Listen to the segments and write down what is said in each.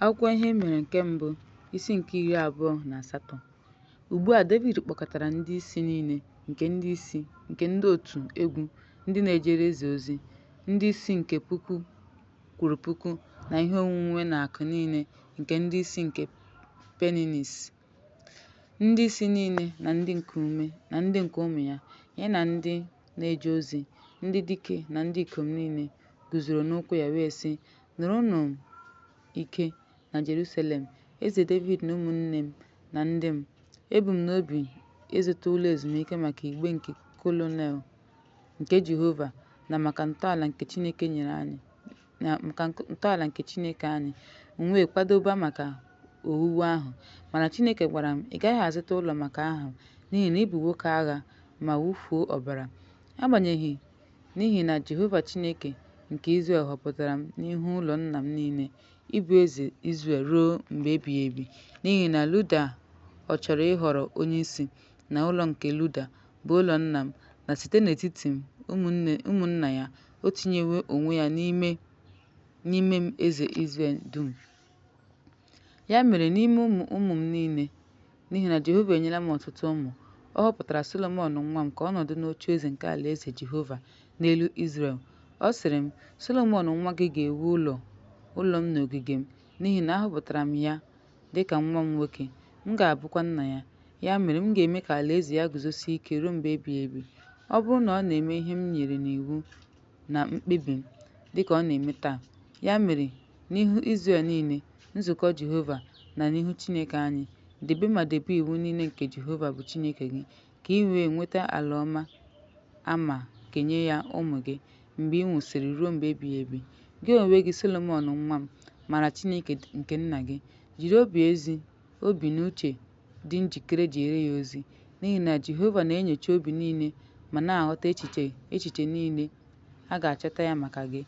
Akwụkwọ Ihe Mere nke Mbụ, isi nke iri abụọ na asatọ. Ugbu a Devid kpọkọtara ndị isi niile nke ndị isi nke ndị otu egwu ndị na-ejere eze ozi, ndị isi nke puku kwuru puku, na ihe onwunwe na akụ niile nke ndị isi nke Peninnis, ndị isi niile na ndị nke ume na ndị nke ụmụ ya, ya na ndị na-eje ozi, ndị dike na ndị ikom niile guzoro n'ụkwụ ya wee sị, Nụrụnụ ike na Jerusalem, Eze Devid na ụmụnne m na ndị m. Ebu m n'obi ịzụta ụlọ ezumike maka igbe nke kolonel nke Jehova na maka ntọala nke Chineke nyere anyị na maka nk- ntọala nke Chineke anyị m wee kwadoba maka owuwu ahụ mana Chineke gwara m ị gaghị azụta ụlọ maka aha m n'ihi na ị bụ nwoke agha ma wụfuo ọbara agbanyeghị N'ihi na Jehova Chineke nke Izrel họpụtara m n'ihu ụlọ nna m niile ịbụ eze Izrel ruo mgbe ebighị ebi, n'ihi na Luda ọ chọrọ ịhọrọ onyeisi na ụlọ nke Luda, bụ ụlọ nna m, na site n'etiti m, ụmụnne ụmụnna ya, o tinyewo onwe ya n'ime n'ime m eze Izrel dum. Ya mere n'ime ụmụ ụmụ m niile, n'ihi na Jehova enyela m ọtụtụ ụmụ, ọ họpụtara Solomọn nwa m ka ọ nọdụ n'ocheeze nke alaeze Jehova n'elu Izrel. Ọ sịrị m, Solomọn nwa gị ga-ewu ụlọ ụlọ m n'ogige m, n'ihi na ahọpụtara m ya dị ka nwa m nwoke, m ga-abụkwa nna ya. Ya mere, m ga-eme ka alaeze ya guzosie ike ruo mgbe ebighị ebi, ọ bụrụ na ọ na-eme ihe m nyere n'iwu na mkpebi m, dịka ọ na-eme taa. Ya mere, n'ihu Izrel niile, nzukọ Jehova, na n'ihu Chineke anyị. Debe ma debe iwu niile nke Jehova bụ Chineke gị, ka ị wee nweta ala ọma a ma kenye ya ụmụ gị mgbe ị nwụsịrị ruo mgbe ebighị ebi. Gị onwe gị, Solomọn nwa m, mara Chineke nke nna gị. Jiri obi ezi obi na uche dị njikere jeere ya ozi, n'ihi na Jehova na-enyocha obi niile ma na-aghọta echiche echiche niile, a ga-achọta ya maka gị.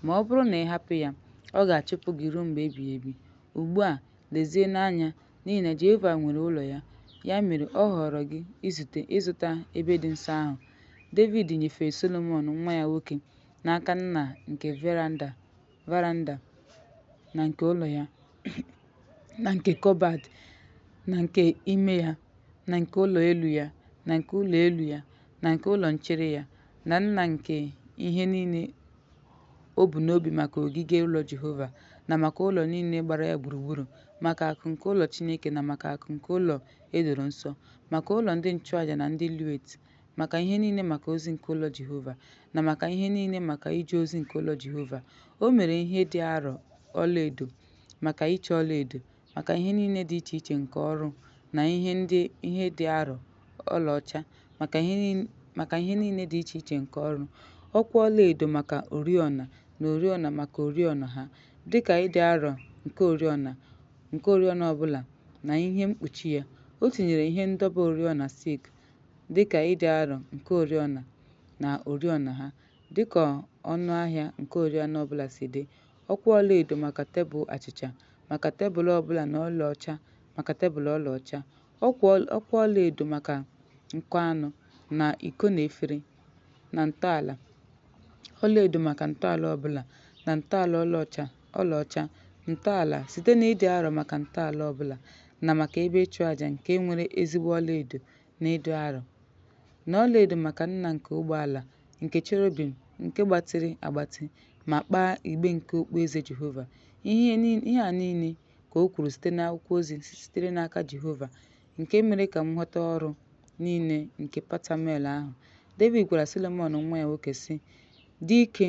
Ma ọ bụrụ na ị hapụ ya, ọ ga-achụpụ gị ruo mgbe ebighị ebi. Ugbu a, lezienụ anya, n'ihi na Jehova nwere ụlọ ya. Ya mere, ọ họọrọ gị izute ịzụta ebe dị nsọ ahụ. Devid nyefere Solomọn nwa ya nwoke n'aka nna nke veranda. varanda na nke ụlọ ya na nke kọbad na nke ime ya na nke ụlọ elu ya na nke ụlọ elu ya na nke ụlọ nchere ya na nna nke ihe niile o bu n'obi maka ogige ụlọ Jehova na maka ụlọ niile gbara ya gburugburu maka akụ nke ụlọ Chineke na maka akụ nke ụlọ e doro nsọ maka ụlọ ndị nchụaja na ndị Levit maka ihe niile maka ozi nke ụlọ Jehova, na maka ihe niile maka ije ozi nke ụlọ Jehova. O mere ihe dị arọ ọlaedo maka iche ọlaedo, maka ihe niile dị iche iche nke ọrụ, na ihe ndị ihe dị arọ ọlaọcha maka ihe niile dị iche iche nke ọrụ, ọkwa ọlaedo maka oriọna, na oriọna maka oriọna ha, dịka ịdị arọ nke oriọna ọbụla na ihe mkpuchi ya. O tinyere ihe ndọba oriọna silk dị ka ịdị arọ nke oriọna na oriọna ha, dị ka ọnụ ahịa nke oriọna ọ bụla si dị, ọkwa ọlaedo maka tebụl achịcha maka tebụl ọ bụla na ọlaọcha maka tebụl ọlaọcha, ọkwa ọlaedo maka nko anụ na iko na efere, na ntọala ọlaedo maka ntọala ọ bụla na ntọala ọlaọcha. ọlaọcha, ntọala, site na ịdị arọ maka ntọala ọ bụla na maka ebe ịchụ aja nke nwere ezigbo ọlaedo na ịdị arọ, na ọlaedo maka nna nke ụgbọ ala nke cherubim nke gbatịrị agbatị ma kpaa igbe nke okpueze Jehova. Ihe a niile ka o kwuru site n'akwụkwọ ozi sitere n'aka Jehova, nke mere ka m ghọta ọrụ niile nke Patamuel ahụ. Devid gwara Solomọn nwa ya nwoke, sị, Dị ike!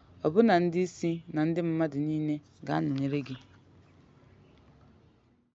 ọbụna ndị isi na ndị mmadụ niile ga-anọnyere gị.